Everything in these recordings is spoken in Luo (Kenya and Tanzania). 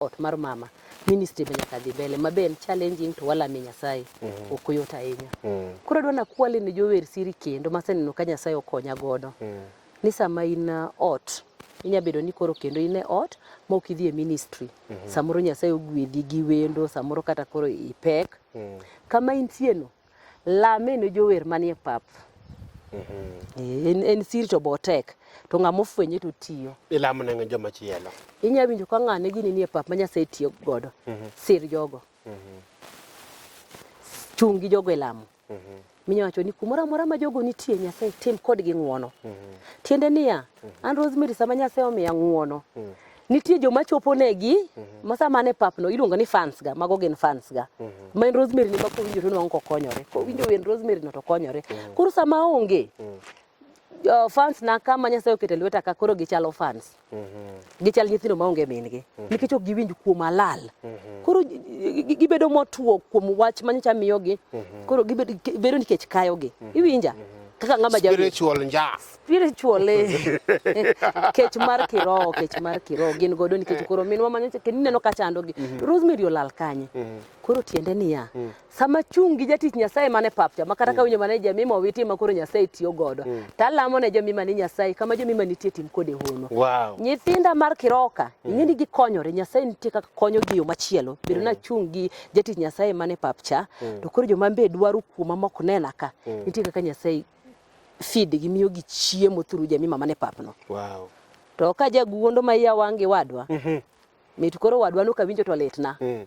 ot mar mama ministry be nyaka dhi mbele ma be en challenging to walame nyasaye mm -hmm. ok oyot ahinya mm -hmm. koro adwa nakwale ne jower siri kendo maseneno ka nyasaye okonya godo mm -hmm. ni sama in uh, ot inya bedo ni koro kendo in e ot ma ok idhi e ministry mm -hmm. samoro nyasaye ogwedhi gi wendo samoro kata koro ipek mm -hmm. kama intieno Lameno jower manie pap. Eh, En, en siri to botek. To ng'ama ofwenye to tiyo. Ilamo ne joma chielo. Inya winjo ka ng'ane gini nie pap ma Nyasaye tiyo godo. Sir jogo. Chung' gi jogo e lamo. Minya wacho ni kumoro amora ma jogo nitie Nyasaye tim kodgi ng'wono. Tiende niya, an Rosemary sama Nyasaye omiya ng'wono, nitie joma chopo negi mm -hmm. masa mane papno iluongo ni fans ga mago gin fans ga mm -hmm. main rosemary ni ma kowinjo to nwango kokonyore kowinjo wen rosemary no to konyore mm -hmm. koro sama onge mm -hmm uh, fans na kama Nyasaye oketo lweta ka koro gichalo fans mm -hmm. gichal nyithindo maonge mingi mm -hmm. nikech ok giwinj kuom alal mm -hmm. koro gibedo motuo kuom wach manyocha miyogi mm -hmm. koro gibedo nikech kayogi mm -hmm. iwinja mm -hmm. kaka ng'ama spiritual njas spiritually kech mar kiroho kech mar kiroho gin godo nikech koro minwa manyo kendo ineno ka chandogi mm -hmm. Rosemary olal kanye mm -hmm. koro tiende niya mm -hmm. sama chung' gi jatich Nyasaye mane papcha ma kata mm -hmm. kawinjo mane jamima owiti ma koro Nyasaye tiyo godo mm -hmm. talamo ne jamima ni Nyasaye kama jamima nitie tim kode hono wow. nyithinda mar kiroho ka mm -hmm. ing'eni gikonyore Nyasaye nitie kaka konyo gi yo machielo bedo mm -hmm. na chung' gi jatich Nyasaye mane papcha mm -hmm. to koro joma mbe dwaro kuoma mok nena ka mm -hmm. nitie kaka Nyasaye feed gimiyo gi chiemo through Jemima mane papno. Wow. To ka jaguondo ma iya wangi wadwa. Mhm. Mm mit koro wadwa no kawinjo to litna. Mm.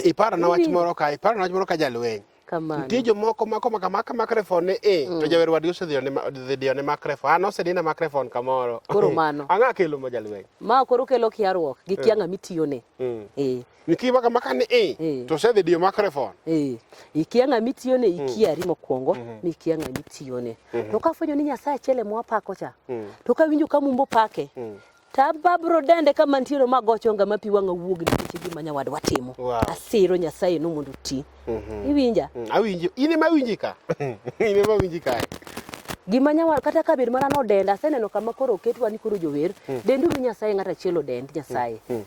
Iparo na wach moro ka, iparo na wach moro ka jalweny. Kamano. Nitie jomoko mako maka maka makrefon ni e mm. to jawer wadgi osedhi one dhi one makrefon. An osedina makrefon kamoro. Koro mano. Ang'a kelo ma jalweny. Ma koro kelo kiarruok gi kianga mm. mitiyo ne. Mm. Eh. nikiba kama kani i eh. to se video microphone eh ikia ng'ami tiyone mm. ikia rimo kwongo mm -hmm. mikia ng'ami tiyone mm -hmm. to kafwenyo ni nyasaye achiel ema wapako cha mm. to kawinjo ka mumbo pake mm. tababro dende ka mantiere ma gocho nga mapi wanga wuog nikech gima nyawad watimo wow. asiro nyasaye no mondo ti mm -hmm. iwinja mm. awinjo in ema winji ka in ema winji ka gima nyawal kata ka bed mana nodenda aseneno kama koro oketwa ni koro jower mm. dendu ni nyasaye ng'at achiel odend nyasaye mm. Mm.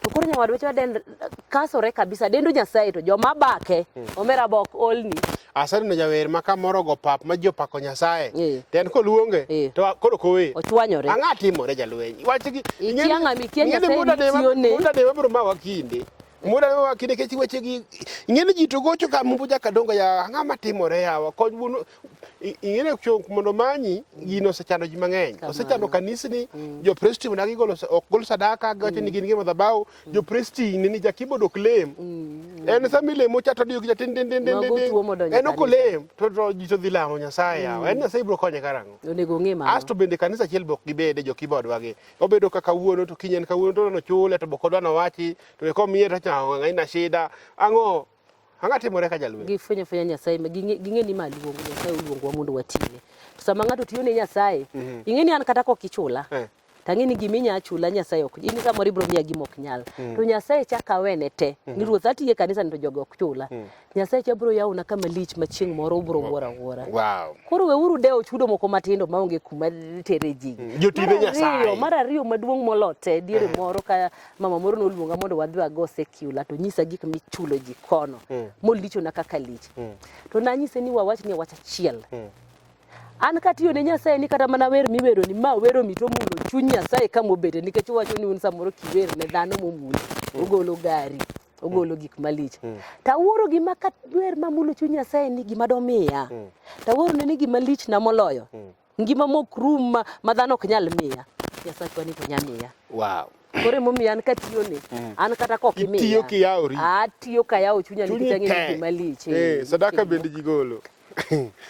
to koro nyawadwa wacho dend kasore kabisa dendo nyasaye to joma bake hmm. omera bok olni aseneno jawer ma kamoro go pap ma ji opako nyasaye eh. to en koluonge eh. to koro kowe ochwanyore ang'a timore jalweny wachgi muda dewa biro mawa kinde muda dewa kinde kech wechegi ing'eni ji to gocho ka mumbu jakadongo ya ang'a matimore yawa kony wuonu ing'eyo chok mondo manyi gino osechando ji mang'eny osechando kanisni mm. jopresti mna gigolo ok gol sadaka gawacho ni mm. gin gi madhabahu mm. jopresti ni jakibo dok lem en sama ilemo cha to diyo gi chatin din din din din en ok olem to to ji to dhi lamo nyasaye yawa en nyasaye biro konye karang'o onego ng'e ma asto bende kanisa achiel bok gibede jokibo odwa gi obedo kaka wuono to kinyen kawuono to no chule to bok odwa no wachi to ko miye to cha ng'aina shida ang'o Ang'a timore ka jalweny. Gifwenyo fwenya Nyasaye, ging'e ni ma luongo Nyasaye oluongowa mondo watine. To sama ng'ato tiyo ne Nyasaye, mhm. ing'e ni an kata kok ichula. Eh. Tang'e ni gimi nya chula Nyasaye ok. In samoro ibro miya gima ok nyal. Mm. To Nyasaye chaka awene te. Mm. Ni ruoth atiye kanisa ni to jogo ok chula. Mm. Nyasaye cha bro yawona kama lich ma chieng' moro ubro wuora wuora. Wow. Koro weuru dewo chudo moko matindo maonge kuma tere ji. Jotine Nyasaye. Mar ariyo maduong' molote diere moro ka mama moro noluonga mondo wadhi wago secular to nyisa gik michulo ji kono mm. molichona kaka lich mm. to nanyise ni wawach ni wach achiel mm. an katiyo ne nyasaye ni kata mana wer miwero ni ma wero mito mulo chuny nyasaye ka mobede nikech owacho ni un samoro kiwer ne dhano momulo mm. ogolo gari ogolo gik malich mm. tawuoro gima ka wer mamulo chuny nyasaye ni gima domiya mm. tawuoro ne ni gima lich na moloyo mm. Ngima mok rum ma, ma dhano ok nyal miya. Nyasachwa ni to nya miya. Wow. Koro emomiyo an katiyo ni, mm. an kata kok imiya. Itiyo kiyawori. Atiyo kayawo chunya nikech ang'eyo gima lich. Eh, eh sadaka bende jigolo.